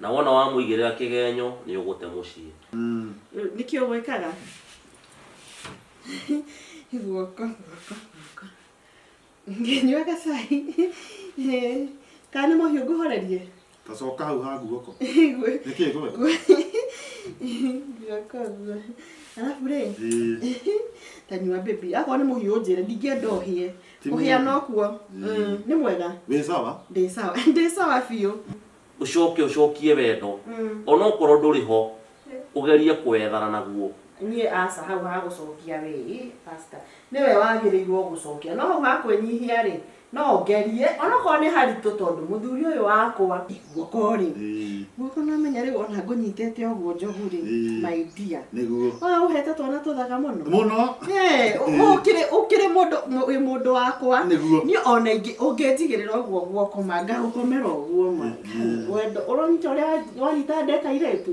Na wona wamũigĩrĩra kĩgenyo nĩ ũgũte mũciĩ. Nĩkĩ ũgwĩkaga? Guoko, guoko, guoko. Ngĩnyuaga cai. Eh, Kana nĩ mũhiũ ngũhorerie? Tacoka hau ha guoko. Gwe- Nĩkĩ gwe? Guoko ũguo. Arabu rĩ, Ĩĩ. tanyua baby. Akorwo nĩ mũhiũ ũnjĩre, ndingĩenda ũhĩe. Ti må hiana mũũru. ũkuo Mm, nĩ mwega wĩ sawa ndĩ sawa ndĩ sawa biũ ucoke ucokie wendo Mm. onokorwo ndũrĩ ho ugerie kwethana naguo niĩ aca hau ha gũcokia rĩ pasta nĩwe wagĩrĩirwo gũcokia no hau ha kwĩnyihia rĩ no ngerie onokorwo nĩ haritũ tondũ mũthuri ũyũ wakwa guoko rĩ Ĩĩ, guoko namenya rĩu ona ngũnyitĩte ũguo njogu rĩ Ĩĩ. my dear nĩguo Ah, ũhete twana tũthaka mũno mũno Eh, ũ- ũkĩrĩ ũkĩrĩ mũndũ mũ- wĩ mũndũ wakwa Nĩguo. niĩ ona ingĩ ũngĩnjigĩrĩra ũguo guoko ma ngagũkomera ũguo ma Mhm. wendo ũronyita ũrĩa wa- wanyita ndeka irĩtu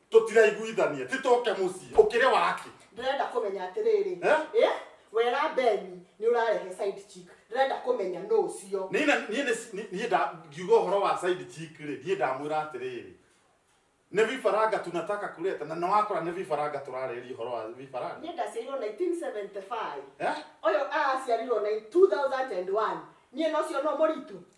tũtiraiguithania titoke mũciĩ ũkĩrĩ waki ndĩrenda kũmenya atĩrĩrĩ Eh? Eh? wera beni nĩ ũrarehe side chick ndĩrenda kũmenya nũ ũcio niĩ na- niĩ nĩ- niĩ- niĩ nda- ngiuga ũhoro wa side chick rĩ niĩ ndamwĩra atĩrĩrĩ nĩ vifaranga tunataka kuleta na nawakora nĩ vifaranga tũrarĩria ũhoro wa vifaranga niĩ ndaciarirwo 1975 Eh? ũyũ aciarirwo na 2001 niĩ nocio no mũritũ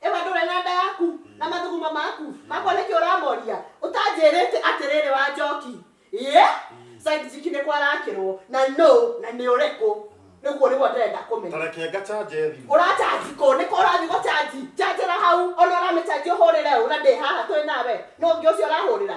Ĩwe ndũrĩ na nda yaku na mathuguma maku makwa nĩkĩ ũramoria ũtanjĩrĩte atĩrĩrĩ wa njoki ĩĩ side chick nĩ kwarakĩrwo na nũ na nĩ ũrĩkũ nĩguo nĩguo ndĩrenda kũmenya Tareke ngacanje thimũ. ũrachaji kũ nĩkũ ũrathiĩ gũchaji chanjĩra hau ona ũramĩchanji ũhũrĩre ũ na ndĩ haha twĩ nawe nũ ũngĩ ũcio ũrahũrĩra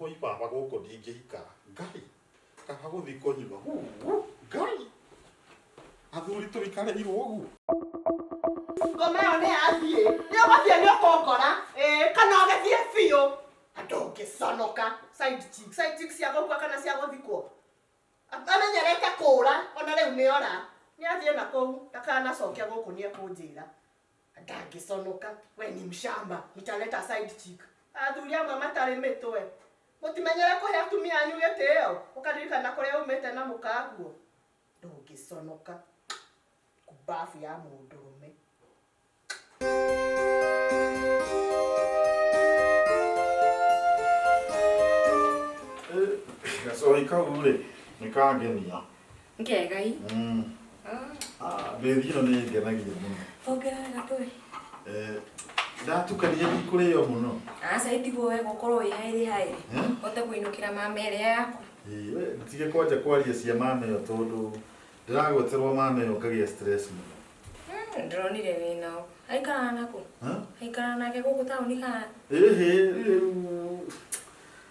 Woi baba gũkũ ndingĩikara. Ngai! Kaba gũthiĩ kũnyua. Huu! Ngai! Athuri tũikareirwo ũguo. Ngoma ĩyo nĩ yathiĩ. Nĩ ũgũthiĩ nĩ ũkũngora. Ĩĩ, kana ũgĩthiĩ biũ. Andũ ũngĩconoka. Side chick. Side chick cia gũkua kana cia gũthikwo. Amenyerete kũũra, ona rĩu nĩ ora. Nĩ athiĩ na kũu, ndakanacoke gũkũ nĩ ekũnjĩra. ndangĩconoka we ni mshamba nitaleta side chick athuri amwe matarĩ mĩtwe mũtimenyere kũhe atumia anyu gĩtĩo ũkaririkana kũrĩa umĩte na mũkaguo ndũngĩconoka kumbabu ya mũndũrũme gacohi kau rĩ nĩ kangenia Ngegai. Mm. Ah. Ah, baby ĩno nĩ ngenagia mũno. Ongerera gatũĩ. Eh, ndatukania ndikũrĩo mũno. Aca itigwo wega ũkorwo wĩ haĩrĩ haĩrĩ. Ũte kũinũkĩra mama ĩrĩa yaku. Ĩĩ, we tige kwanja kwaria cia mama ĩyo tondũ ndĩragweterwo mama ĩyo ngagĩa stress mũno. Hmm, Ndĩronire wĩ nao. Aikaraga nakũ? Ha? Aikaraga nake gũkũ taũni kana? Ĩhĩ, rĩu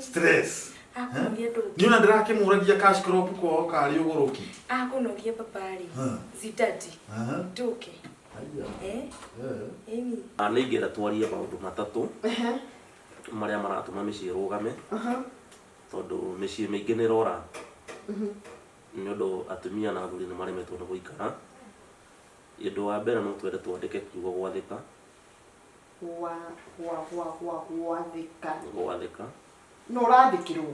stress akũnogia ndũngĩ nä ona ndärakĩmũragia cash crop kwao karä å gå rå ki akũnogia babarĩ Hmm. zitati njũke Eh, ĩni Ah, nĩ ingĩenda twarie maũndũ matatũ marĩa maratũma mĩciĩ ĩrũgame tondũ mĩciĩ mĩingĩ nĩ ĩrora nĩ ũndũ atumia na athuri nĩ maremetwo nĩ gũikara ũndũ wa mbere no twende twandĩke kiugo gwathĩka gwa gwa gwa gwa gwathĩka gwathĩka no ũrandĩkĩrwo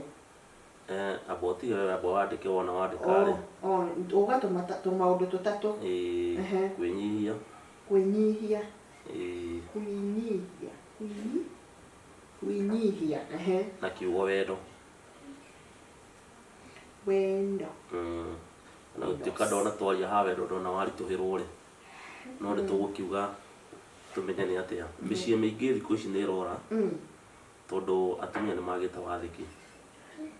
eh, abo tiga wewe abo wandĩke wona wandĩka rĩ O- o, ũgatũma ta- tũmaũndũ tũtatũ eh, Ehe. kwĩnyihia kwĩnyihia eh, kwĩnyihia kwĩnyi- kwĩnyihia ehe na kiugo wendo wendo Mm. na gũtuĩka ndona twaria ha wendo ndona waritũhĩrwo rĩ no nĩ tũgũkiuga Tũmenyane atĩa? Mĩciĩ mĩingĩ thikũ ici nĩ ĩrora Mm. tondũ atumia nĩ magĩte wathĩki.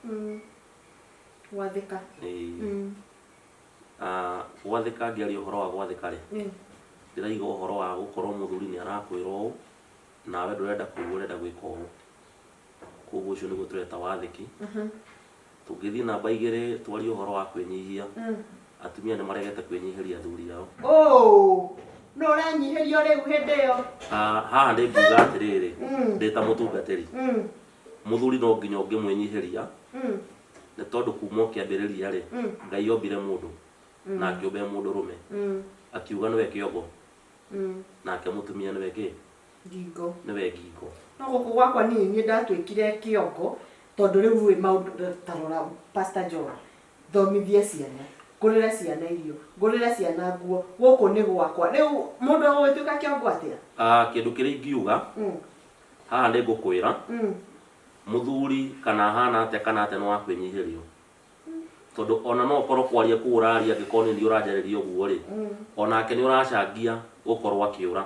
Mm. Gwathĩka. Ĩĩ. Mm. Ah, Gwathĩka ngĩaria ũhoro wa gwathĩka rĩ, Mm. ndĩraiga ũhoro wa gũkorwo mũthuri nĩ arakwĩra ũũ, nawe ndũrenda kũigua ũrenda gwĩka ũũ. Koguo ũcio nĩguo tũreta wathĩki. Tũngĩthiĩ namba igĩrĩ twarie ũhoro wa kwĩnyihia, atumia nĩ maregete kwĩnyihĩria athuri ao. Ũũ! Nũ ũranyihĩrio rĩu hĩndĩ ĩyo? Ah, haha nĩ nguga atĩrĩrĩ, ndĩ ta mũtungatĩri, mũthuri no nginya ũngĩmwĩnyihĩria, nĩ tondũ kuma o kĩambĩrĩria-rĩ, Ngai ombire mũndũ na akĩũmba e mũndũrũme, akiuga nĩwe kĩongo Mm. nake mũtumia nĩwe kĩ Ngingo. nĩwe ngingo No gũkũ gwakwa niĩ niĩ ndatuĩkire kĩongo tondũ rĩu rĩ maũndũ ta rora Pastor John thomithie ciana ngũrĩre ciana irio ngũrĩre ciana nguo gũkũ nĩ gwakwa rĩu mũndũ agũgĩtuĩka kĩongo atĩa Ah, kĩndũ kĩrĩa ingiuga Mm, haha nĩ ngũkwĩra mm. mũthuri kana hana atĩa kana atĩa nĩ wa kwĩnyihĩrio tondũ ona no ũkorwo kwaria kũu ũraria angĩkorwo nĩ niĩ ũranjarĩria ũguo rĩ onake nĩ ũracangia gũkorwo akĩũra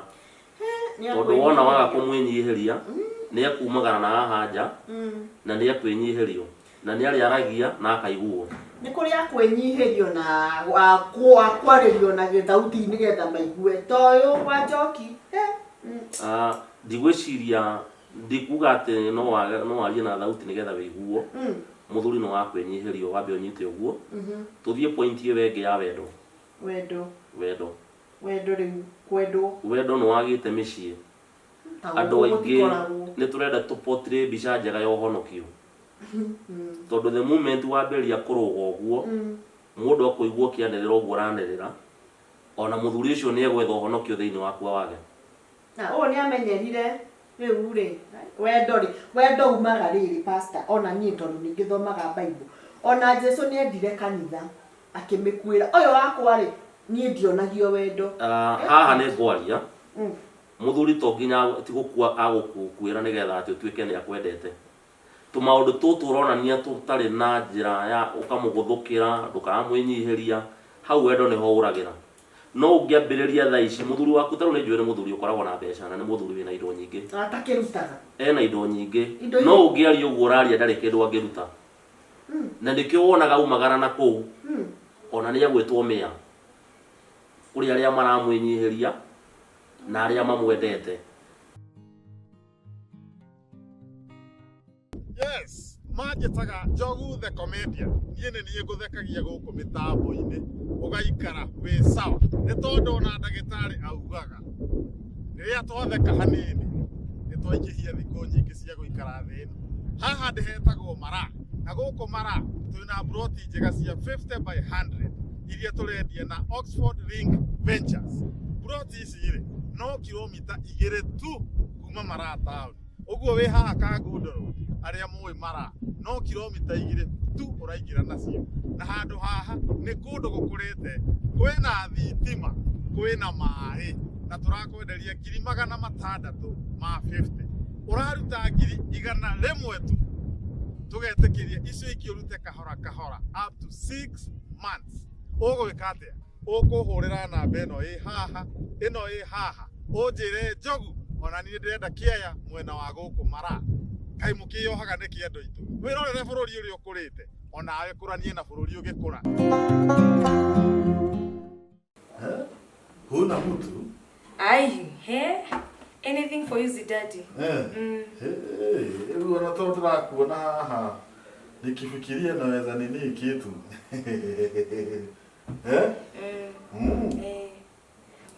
tondũ wona waga kũmwĩnyihĩria nĩ ekumagara na haha nja na nĩ ekwĩnyihĩrio na nĩ arĩaragia na akaiguo nä kå rä a kwänyihirio na wa- kwa- kwarĩrio na gä thauti nä getha maigue toyå wa njoki he, mm. Ah, ndigwĩciria Ndikuga atĩ no wage no warie na thauti nĩgetha wĩiguo, mũthuri nĩ wa kwĩnyihĩrio wambe ũnyite ũguo. Tũthiĩ point ĩyo ĩngĩ ya wendo. Wendo. Wendo. Wendo rĩu kwendwo. Wendo nĩ wagĩte mĩciĩ. Ta Andũ gũkũ aingĩ gũtikoragwo. nĩ tũrenda tũ portray mbica njega ya ũhonokio. Tondũ the moment wambĩrĩria kũrũga ũguo, mũndũ akũigua ũkĩanĩrĩra ũguo ũranĩrĩra, ona mũthuri ũcio nĩ egwetha ũhonokio thĩinĩ waku awage. Na ũũ nĩ amenyerire rĩu-rĩ, wendo-rĩ, wendo umaga rĩrĩ pastor, ona niĩ tondũ nĩ ngĩthomaga Bible, ona Jesu nĩ endire kanitha, akĩmĩkuĩra. Ũyũ wakwa-rĩ, niĩ ndionagio wendo. Ah, haha nĩ ngwaria, Mm. mũthuri to nginya agũ- ti gũkua agũkuĩra nĩ getha atĩ ũtuĩke nĩ akwendete. Tũmaũndũ tũtũ ũronania tũtarĩ na njĩra ya ũkamũgũthũkĩra, ndũkamwĩnyihĩria, hau wendo nĩho ũragĩra. No ũngĩambĩrĩria thaa ici, mũthuri waku ta rĩu nĩnjũĩ nĩ mũthuri ũkoragwo na mbeca na nĩ mũthuri wĩna indo nyingĩ. Atakĩrutaga. Ena indo nyingĩ. Indo No iria- ũngĩaria ũguo ũraria ndarĩ kĩndũ angĩruta. Mm. Na nĩkĩo wonaga aumagara na kũu, Mm. ona nĩegwĩtwo mĩa. Kũrĩ arĩa maramwĩnyihĩria na arĩa mamwendete. Yes, manjĩtaga Njogu the Comedian. Niĩ nĩ niĩ ngũthekagia gũkũ mĩtambo-inĩ ũgaikara wĩ sawa. Nĩ tondũ ona ndagĩtarĩ augaga rĩrĩa twatheka hanini nĩ twaingĩhia thikũ nyingĩ cia gũikara thĩ ĩno. Haha ndĩ hetagwo Mara na gũkũ Mara twĩ na mburoti njega cia 50 by 100 iria tũrendia na Oxford Ring Ventures. Mburoti ici rĩ no kilomita igĩrĩ tu kuma Mara taũni. ũguo wĩ haha kangundoro arĩa mũĩ mara no kilomita igĩrĩ tu ũraingĩra nacio na handũ haha nĩ kũndũ gũkũrĩte kwĩna thitima kwĩna maĩ na tũrakwenderia ngiri magana matandatũ ma 50 ũraruta ngiri igana rĩmwe tu tũgetĩkĩria icio ingĩ ũrute kahora kahora up to 6 months ũgwĩka atĩa ũkũhũrĩra namba ĩno ĩ haha ĩno ĩ haha ũnjĩre njogu ona niĩ ndĩrenda kĩaya mwena wa gũkũ mara kaĩ mũkĩyohaga nĩ kĩendo itũ wĩrorere bũrũri ũrĩa ũkũrĩte onawe kũranie na bũrũri ũgĩkũra Eh? Huna mtu? Ai, he. Anything for you, Zidadi. Eh. Mm. Eh, eh, Rĩu ona tondũ ndĩrakuona haha nikifikiria naweza nini kitu. Eh? Mm. Mm. Eh,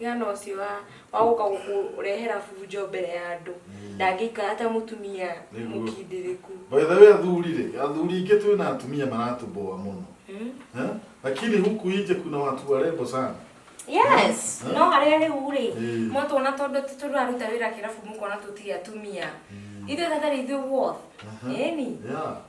Gana ũcio wa- wa gũka gũkũrehera bunjo mbere ya andũ ndangĩikara ta mũtumia Nĩguo. mũkindĩrĩku By the way athuri rĩ, athuri ingĩ twĩ na atumia maratũboa mũno. Mm. Eh? Lakini huku nje kuna watu warembo sana. yes Eh? no harĩa rĩu rĩ Eh. mwatwona tondũ ti tũraruta wĩra kĩrabu mũkona tũtirĩ atumia ithuĩ thatharĩ ithuĩ woth Aha. eni Yeah.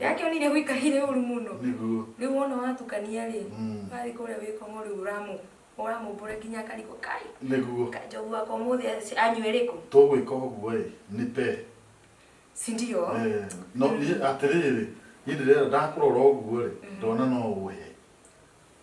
yake onire gwikahire uru muno niguo riu wona watukania ri Mm. wathi kuria wikomo riu uramu uramumbura nginya akarigwo kai niguo kai njogu wakwa muthi anyue riku tũgwĩka ũguo ĩ nĩ pe sindio Eh, no niĩ atĩrĩrĩ niĩ ndĩrenda ndakũrora ũguo rĩ ndona no ũhe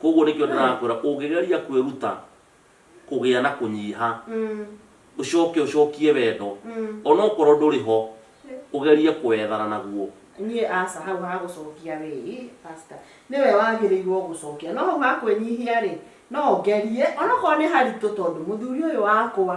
Kwoguo nĩkĩo ndĩrakwĩra, ũngĩgeria kwĩruta kũgĩa na kũnyiha, ũcoke ũcokie wendo, o na okorũo ndũrĩ ho, ũgerie kũwethana naguo. Niĩ aca, hau ha gũcokia rĩ, ĩ pastor, nĩwe wagĩrĩirũo gũcokia. No hau ha kwĩnyihia rĩ, no ngerie, o na okorũo nĩ haritũ tondũ mũthuri ũyũ wakwa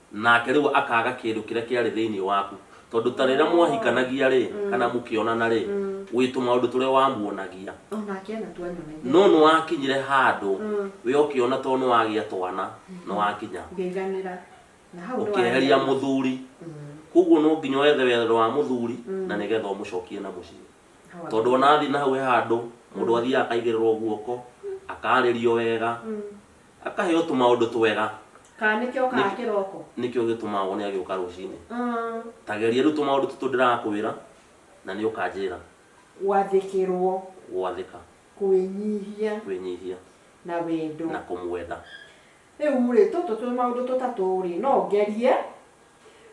Nake rĩu akaaga kĩndũ kĩrĩa kĩarĩ thĩinĩ waku, tondũ ta rĩrĩa mwahikanagia-rĩ, kana mũkĩonana-rĩ, wĩ tũmaũndũ tũrĩa wamuonagia. O nake anatua anyonagia. No nĩwakinyire handũ we ũkĩona to nĩwagĩa twana, nĩwakinya. Ngĩiganĩra. Na hau nĩwaria. Ũkĩeheria mũthuri. Kwoguo no nginya wethe wendo wa mũthuri na nĩgetha ũmũcokie na mũciĩ. Tondũ o na athiĩ na hau he handũ mũndũ athiaga akaigĩrĩrwo guoko, akaarĩrio wega. Akaheo tũmaũndũ twega. Kana nĩkĩo okaga kĩroko. Nĩkĩo gĩtũmaga wone agĩũka rũcinĩ. Ta geria rĩu tũmaũndũ tũtũ ndĩrakwĩra, na nĩ ũkanjĩra. Gwathĩkĩrũo. Gwathĩka. Kwĩnyihia. Kwĩnyihia. Na wendo. Na kũmwenda. Rĩu-rĩ, tũtũ tũmaũndũ tũtatũ-rĩ, no ngerie.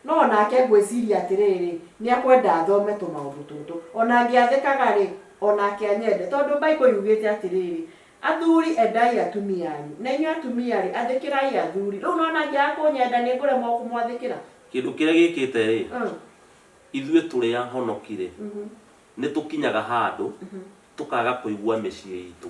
No o nake ngwĩciria atĩrĩrĩ, nĩekwenda athome tũmaũndũ tũtũ. O na ngĩathĩkaga-rĩ, o nake anyende. Tondũ Bible yugĩte atĩrĩrĩ, Athuri, endai atumia anyu, na inyuĩ atumia-rĩ, athĩkĩrai athuri. Rĩu nĩwona angĩaga kũnyenda, nĩngũremwo kũmwathĩkĩra? Kĩndũ kĩrĩa gĩkĩte-rĩ, ithuĩ tũrĩ ahonoki-rĩ, nĩtũkinyaga handũ tũkaga kũigua mĩciĩ itũ.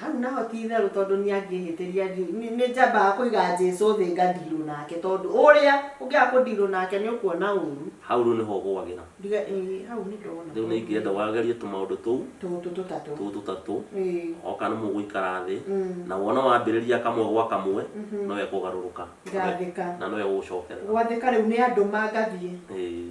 hau naho ti itherũ tondũ nĩ angĩhĩtĩria nĩ njambaga kũiga Jesu thĩ ngandirũ nake tondũ ũrĩa ũngĩaga kũndirũ nake nĩ ũkuona ũru hau rĩu nĩho ũgwagĩra ndiga ĩĩ hau nĩ ndona rĩu nĩ ingĩenda wagerie tũmaũndũ tũu tũtũ tũtatũ tũu tũtatũ ĩĩ oka nĩ mũgũikara thĩ Mm. na wona wambĩrĩria kamwe gwa kamwe Mhm. nĩwe kũgarũrũka Ngathĩka. na nĩwe gũgũcokerera gwathĩka rĩu nĩ andũ mangathiĩ Ĩĩ.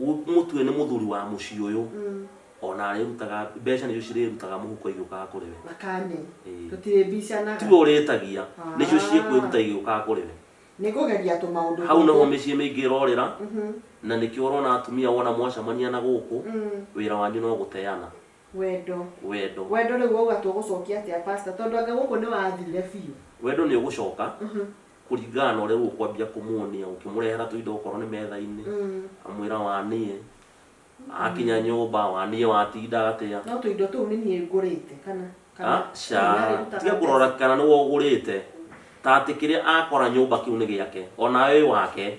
Mũtue nĩ mũthuri wa mũciĩ ũyũ. O na arĩrutaga, mbeca nĩcio cirĩrutaga mũhuko igĩũkaga kũrĩ we. Thakame. Ĩĩ. Tũtirĩbicanaga. Tiwe ũrĩtagia. Haa. Nĩcio ciĩkwĩruta igĩũkaga kũrĩ we. Nĩ kũgeria tũmaũndũ tũngĩ. Hau nĩho mĩciĩ mĩingĩ ĩrorĩra. Na nĩkĩo ũrona atumia wona mwacamania na gũkũ, wĩra wanyu no gũteana. Wendo. Wendo. Wendo rĩu wauga tũgũcokia atĩa pastor? Tondũ anga gũkũ nĩ wathire biũ. Wendo nĩ ũgũcoka. kũringana na ũrĩa ũkwambia kũmuonia ũkĩmũrehera tũindo okorwo nĩ metha-inĩ Mm. amwĩra waniĩ akinya nyũmba waniĩ watinda atĩa no tũindo tũu nĩ niĩ ngũrĩte kana Ah, ca tiga kũrora kana nĩ wogũrĩte ta atĩ kĩrĩa akora nyũmba kĩu nĩ gĩake ona wĩ wake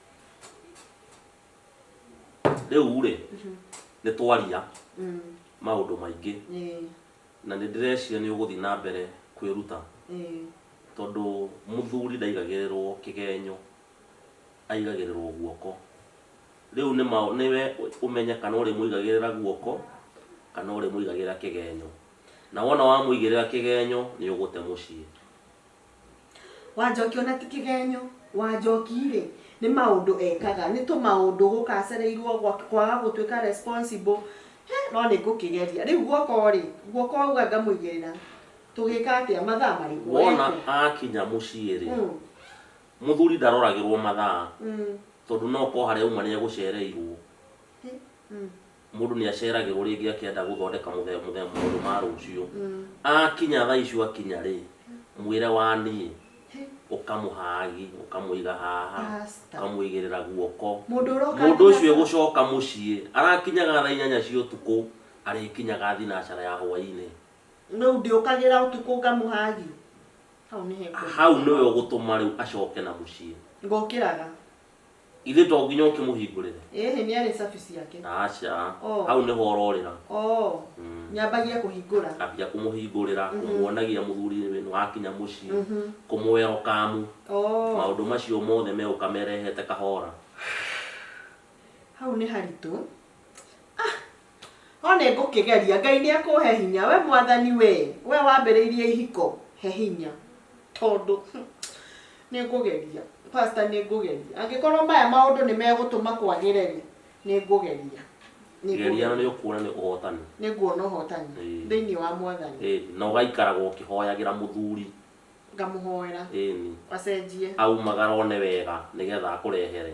rĩu rĩ nĩ twaria maũndũ maingĩ Ĩĩ, na nĩ ndĩreciria nĩ ũgũthiĩ na mbere kwĩruta ĩĩ, tondũ mũthuri ndaigagĩrĩrwo kĩgenyo aigagĩrĩrwo guoko rĩu nĩ ma- nĩwe ũmenye kana ũrĩmũigagĩrĩra guoko kana ũrĩmũigagĩrĩra kĩgenyo na wona wamũigĩrĩra kĩgenyo nĩ ũgũte mũciĩ Wanjoki ona ti kĩgenyo, Wanjoki-rĩ nĩ maũndũ ekaga, nĩ tũmaũndũ gũka acereirwo kwaga gũtuĩka responsible, he no nĩ ngũkĩgeria. Rĩu guoko rĩ, guoko wauga ngamũigĩrĩra, tũgĩka atĩa, mathaa marĩkũ? Wona akinya mũciĩ rĩ, mũthuri ndaroragĩrwo mathaa tondũ no ko harĩa auma nĩ egũcereirwo. Mũndũ nĩ aceragĩrwo rĩngĩ akĩenda gũthondeka mũthemba mũthemba maũndũ ma rũciũ. Akinya thaa icio akinya rĩ, mwĩre wa niĩ, ũkamũhagi, ũkamũiga haha, Basta. ũkamũigĩrĩra guoko. Mũndũ ũroka Mũndũ nginya ũcio saa- egũcoka mũciĩ, arakinyaga thaa inyanya cia ũtukũ, arĩkinyaga thinacara ya hwainĩ. Rĩu ndĩũkagĩra ũtukũ ngamũhagi? Hau nĩ he ngũrĩra. Hau nĩwe ũgũtũma rĩu acoke na mũciĩ. Ngokĩraga. Ithe to nginya ũkĩmũhingũrĩre. Ĩhĩ nĩ arĩ cabi ciake. Aca. Oh. Hau nĩho ũrorĩra. Oh. Mm. Nyambagia kũhingũra. Ambia kũmũhingũrĩra, mm-hmm. kũmuonagia mũthuri wenu wakinya mũciĩ, mm-hmm. kũmũwerokamu. Oh. Maũndũ macio mothe megũka merehete kahora. Hau nĩ haritũ. O nĩ ngũkĩgeria. Ngai nĩ ekũhe hinya. We Mwathani wee, we wambĩrĩirie ihiko, he hinya. Tondũ nĩ ngũgeria. Pastor nĩ ngũgeria. Angĩkorwo maya maũndũ nĩ megũtũma kwagĩre rĩ, nĩ ngũgeria. Nĩ Geria na ngũgeria. nĩ ũkuona nĩ ũhotani. Nĩ nguona ũhotani Ĩĩ. thĩinĩ wa Mwathani. Ĩni. Na ũgaikaraga ũkĩhoyagĩra mũthuri. Ngamũhoera Ĩni. acenjie. Aumagara one wega nĩgetha akũrehere.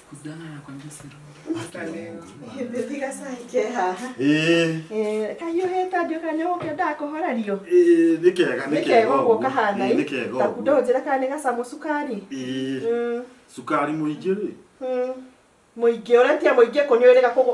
kahiũhĩte nduĩka nĩ gũkĩendaga kũhorerio nĩ kega nĩ kega ũguo kahana nĩ kega ũguo ndũnjĩre kana nĩ gacamũ cukari cukari mũingĩ rĩ mũingĩ ũretia mũingĩ kũnyuĩrĩga kũgũ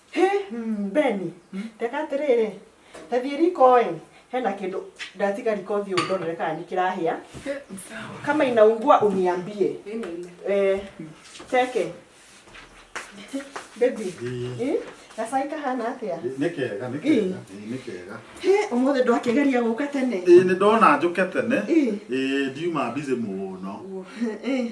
Hĩ, mm, Beni, reka atĩrĩrĩ, ta thiĩ riko ĩ, hena kĩndũ ndatiga riko thiĩ ũndorere kana nĩ kĩrahĩa. Kama inaungua uniambie. Eh, teke. Baby, eh, gacai kahana atĩa? nä kega nä kega nä kega Hĩ, ũmũthĩ ndwakĩgeria gũka tene. ä nä ndona njå ke tene Ĩ. ä ndiuma mbizä må no Eh,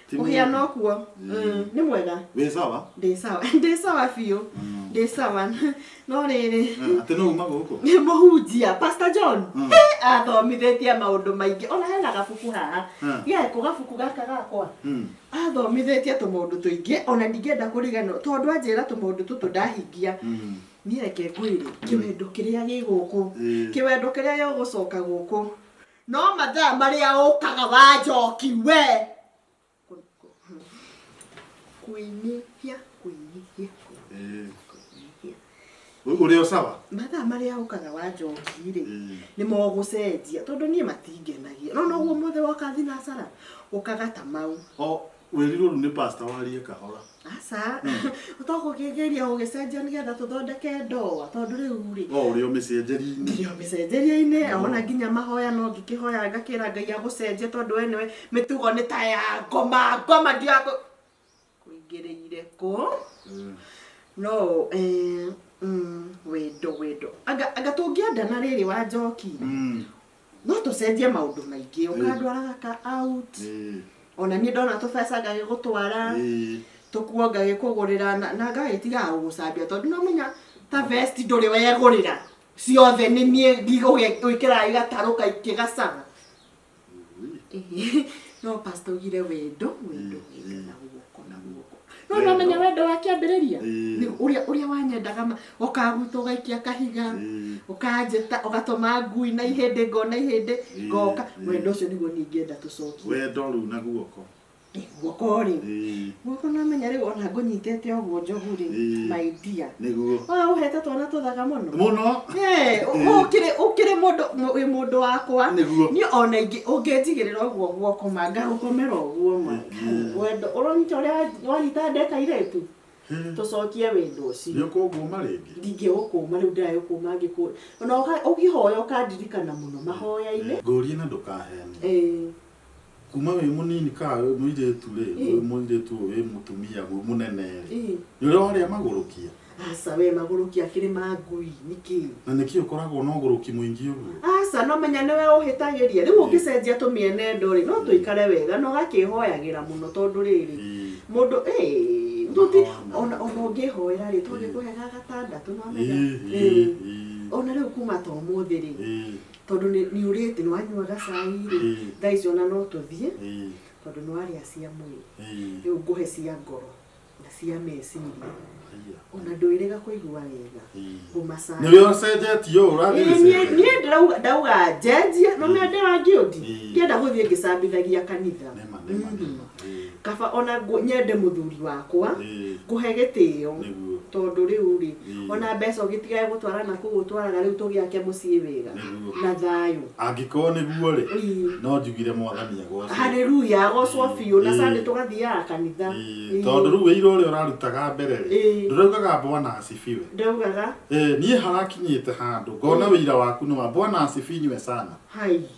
Ti må hiana mũũru. ũkuo Mm, nĩ mwega wĩ sawa ndĩ sawa ndĩ sawa biũ ndĩ sawa no rĩrĩ Eh, atĩ no uma gũkũ nĩ mũhunjia pastor john Mm. Eh, athomithĩtie maũndũ maingĩ ona hena gabuku haha Mm. geko gabuku gaka gakwa Mm. athomithĩtie tũmaũndũ tũingĩ ona ndingĩenda kũriganĩrwo tondũ anjĩra tũmaũndũ tũtũ ndahingia Mm. niĩ reke ngwĩre kĩwendo kĩrĩa gĩ gũkũ Eh. kĩwendo kĩrĩa gĩgũcoka gũkũ No mathaa marĩa ũkaga wa njoki we kuinihia kuinihia kuinihia Uri o sawa? mathaa marĩa ũkaga wa njoki rĩ nĩ mogũcenjia tondũ niĩ matingenagia no noguo mothe woka thinacara ũkaga ta mau O Wĩrirwo rĩu nĩ pastor warie kahora. Aca, ũtagũkĩgeria gũgĩcenjia nĩgetha tũthondeke ndoa tondũ rĩu rĩ O ũrĩa ũmĩcenjeri-inĩ. nginya mĩcenjerie-inĩ ona nginya mahoya no ngĩkĩhoya ngakĩra ngai agũcenjie tondũ we nĩwe mĩtugo nĩ ta ya ngoma ngoma ndiakũ kũingĩrĩire kũ no eh, mm, wendo wendo anga anga tũngĩendana rĩrĩ wa njoki Mm. no tũcenjie maũndũ maingĩ ũkandwaraga ka out Eh, ona niĩ ndona tũbeca ngagĩgũtwara eh. tũkuo ngagĩkũgũrĩra na na ngagĩtigaga gũgũcambia tondũ nomenya ta vest ndũrĩ wegũrĩra ciothe nĩ niĩ ngĩgũgĩkĩraga igatarũ kaingĩ gacaba Ui. no pasta ugire wendo wendo wendo na guoko na guoko no Wendo. namenya wendo wa kĩambĩrĩria Ĩĩ. Nĩ ũrĩa ũrĩa wanyendaga ma- ũkaga gwitũ ũgaikia kahiga Ĩĩ. ũkanjĩta ũgatũma ngui na ihĩndĩ ngona ihĩndĩ Ĩĩ, ngoka ĩĩ. wendo ũcio nĩguo ningĩenda tũcokie wendo rĩu na guoko Ĩ, guoko rĩ Ĩĩ. guoko namenya rĩu ona ngũnyitĩte ũguo njogu rĩ Ĩĩ. my dear nĩguo wa ũhete twana tũthaga mũno mũno Eh, ũ- Ĩĩ. ũkĩrĩ ũkĩrĩ mũndũ mũ- wĩ mũndũ wakwa nĩguo niĩ ona ingĩ ũngĩnjigĩrĩra ũguo guokoma ngagũkomera ũguo ma Ĩĩ. wendo ũronyita ũrĩa wa- wanyita nda kairĩtu tũcokie wendo ũcio nĩ kũngũma rĩngĩ ndingĩgũkũma rĩu ndĩragĩkũma ngĩkũ ona ũka- ũkĩhoya ũkandirikana mũno mahoya-inĩ ngũrie na ndũkahene Eh, kuma wĩ mũnini ka wĩ mũirĩtu rĩ Eh. wĩ mũirĩtu ũyũ wĩ mũtumia wĩ mũnene rĩ eh. nĩ ũrĩa warĩa magũrũkia Aca we magũrũki akĩrĩ ma ngui nĩkĩ? Na nĩkĩ ũkoragwo na ũgũrũki mũingĩ ũguo? Aca no menya nĩwe ũhĩtagĩria. Rĩu ũngĩcenjia tũmĩenendo rĩ, no tũikare wega na ũgakĩhoyagĩra mũno tondũ rĩrĩ, mũndũ ĩĩ, tũti, ona ona ũngĩhoera rĩ, to ngĩkũhega gatandatũ nĩ wamenya? Ĩĩ. Ona rĩu kuma ta ũmũthĩ rĩ, tondũ nĩ nĩ ũrĩte nĩ wanyua gacai rĩ, thaa ici ona no tũthiĩ, tondũ nĩ warĩa cia mwĩrĩ. Rĩu ngũhe cia ngoro. na cia meciria ona ndwĩrĩga kũigua wega ngũmacaya nĩwe ũcenjetie ũũ ũrathiĩ Ĩĩ, niĩ gĩcenjetie. niĩ ndĩrauga ndauga njenjie no mende wa ngĩũndi Ĩĩ. ngĩenda gũthiĩ ngĩcambithagia kanitha Nĩma, nĩma, Mhm. nĩma. Ĩĩ, kaba ona ngũ- nyende mũthuri wakwa ĩĩ, ngũhe gĩtĩo nĩguo. tondũ rĩu rĩ ona mbeca ũgĩtigage gũtwara na kũu ũtwaraga rĩu tũgĩake mũciĩ wega Nĩguo. na thayũ angĩkorwo nĩguo rĩ Ii. no njugire mwathani agwacwo haleluya agocwo biũ na Ii. sande tũgathiaga kanitha Ĩĩ, Ii. tondå rä u wä ira å rä a å rarutaga mbere rä Ĩĩ. ndå raugaga bwana asifiwe ndaugaga Ĩĩ, niä harakinyä te handå ngona wä ira waku nä wa bwana asifinywe sana hai